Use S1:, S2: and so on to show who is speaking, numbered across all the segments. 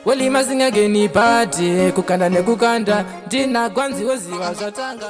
S1: Wali mazinga geni pati kukanda nekukanda ndina gwanzi woziva zvatanga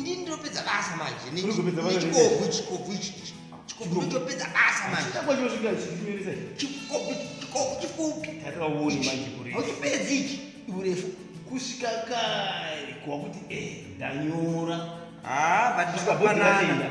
S2: ndinopedza basa manje nechikobvu
S3: chikobvu ichi
S2: chikobvu ndotopedza basa
S3: manjechikobvu
S2: chifupi
S3: auchipedzi ichi
S2: urefu
S3: kusvika kare kuva kuti eh,
S2: ndanyora
S3: haa ah,
S2: vatikapanana